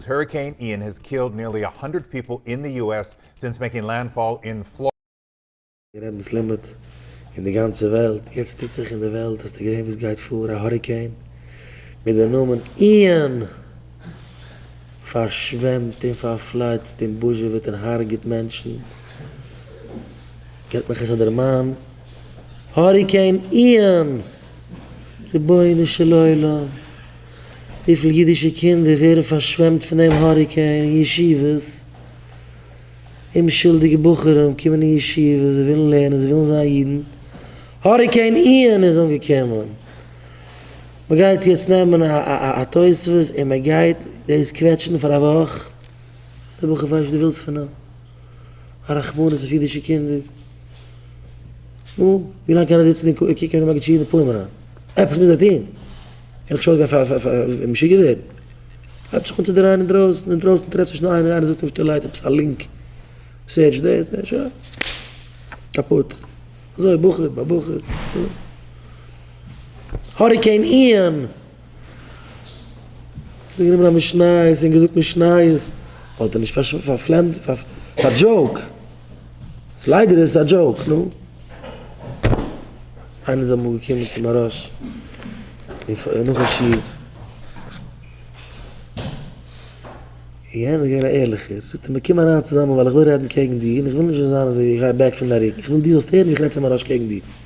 העריקעין איען העז קילד ניערלי א האנדרעט פיפל אין די יו עס סינס מעקינג לענדפאל אין פלארידע. רעבנס לימוד אין די גאנצע וועלט, יעצט טוט זיך אין די וועלט אז ס'געווען וואס גייט פאר א האריקעין מיט די נאמען איען, פארשוועמט און פארפלייצט און בוזשעוועט און הארגעט מענטשן, געט מיך עס א דערמאן האריקעין איען, רבונו של עולם. וויפיל אידישע קינדער ווערן פארשוועמט פון דעם האריקעין אין ישיבות, אומשולדיגע בחורים קומען אין ישיבה, זיי ווילן לערנען, זיי ווילן זיין אידן, האריקעין איאן איז אנגעקומען, מען גייט יעצט נעמען א תוספות און מען גייט דאס קוועטשן פאר א וואך, דער בחור ווייסט וואס דו ווילסט פון אים, א רחמנות אויף אידישע קינדער, נו, ווי לאנג קען ער זיצן און קוקן מיט די מגיד שיעור אין די פנים אריין, עפעס מוז ער טון. איך שוי זיך פאר פאר פאר משוגע ווערן. הייבט זיך אן צו דרייען אינדרויסן אינדרויסן טרעפסט נישט איינער איינער זאגט אים שטילערהייט עפעס א לינק סערטש דעס דעס שוין קאפוט אזוי בחור ביי בחור. האריקעין איען האט גענומען א משניות און געזאגט משניות וואלט ער נישט פארפלעמט פאר דזשאוק. ס'איז ליידער איז עס א דזשאוק, נו. איינער איז אמאל געקומען צו מהראש און נאכן שיעור, יענער איז געווען א ערליכער, זאגט ער מיר קום אריין צוזאמען ווייל איך וויל רעדן קעגן דיר און איך וויל נישט ווען זיין אזוי איך גיי אוועק פון די ארום, איך וויל דו זאלסט הערן ווי איך רעד צו מהראש קעגן דיר.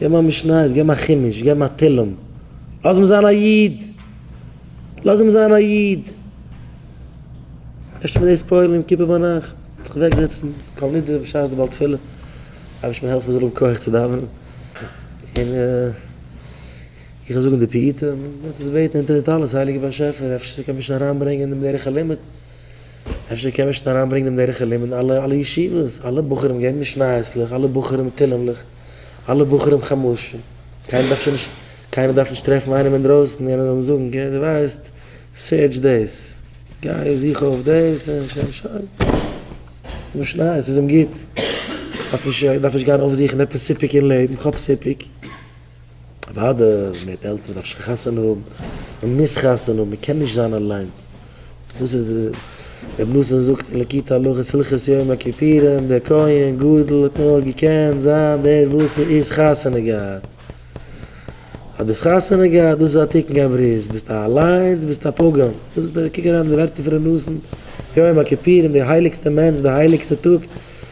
געב מיר א משניות, געב מיר א חומש, געב מיר א תהלים. לאז אים זיין א איד! לאז אים זיין א איד! אפשר מיט דאס פועל יום כיפור ביינאכט וועט זיך אוועק זעצן כל נדרי בשעת די בעל תפילה, רבי שמעון העלפער זאל האבן כח צו דאווענען, און איך וועל זאגן די פיוטים, און עטס בעטן אונטער די טלית הייליגער באשעפער אפשר ער קען מישן אריינברענגען אין דעם דרך הלימוד. אפשר קען מען שוין אריינברענגן דעם דרך הלימוד אין אלע אלע ישיבות, אלע בחורים געבן משנייות'לעך, אלע בחורים תהלים'לעך, אלע בחורים חומשים, קיינער דארף שוין נישט, קיינער דארף נישט טרעפן איינעם אינדרויסן און אים זאגן גיי דו ווייסט סערטש דאס, גיי זוך אויף דאס און שוין שוין, משניות איז אים גוט, דארף נישט דארף נישט גיין אויפזוכן עפעס סיפוק אין לעבן, כ'האב סיפוק. אוואדע מ'הערט עלטערן דארף שוין חתונה האבן, מ'מוז חתונה האבן, מ'קען נישט זיין אליינס, דאס איז די רבי נתן זאגט אין ליקוטי הלכות הלכות יום הכיפורים דער כהן גדול האט נאר געקענט זיין דער וואס איז חתונה געהאט, אז דו האסט חתונה געהאט דאס איז א תיקון גבריות, ביסטו אליינס ביסטו א פגם, דאס זאגט דער רבי קוק אריין אין די ווערטער פון רבי נתן יום הכיפורים דער הייליגסטער מענטש דער הייליגסטער טאג.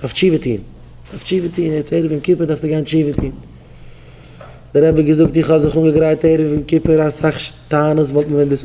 דארף תשובה טון, דארף תשובה טון, יעצט ערב יום כיפור דארפסטו גיין תשובה טון, דער רבי האט געזאגט איך האב זיך אנגעגרייט ערב יום כיפור אסאך טענות וואלט מען ווען דאס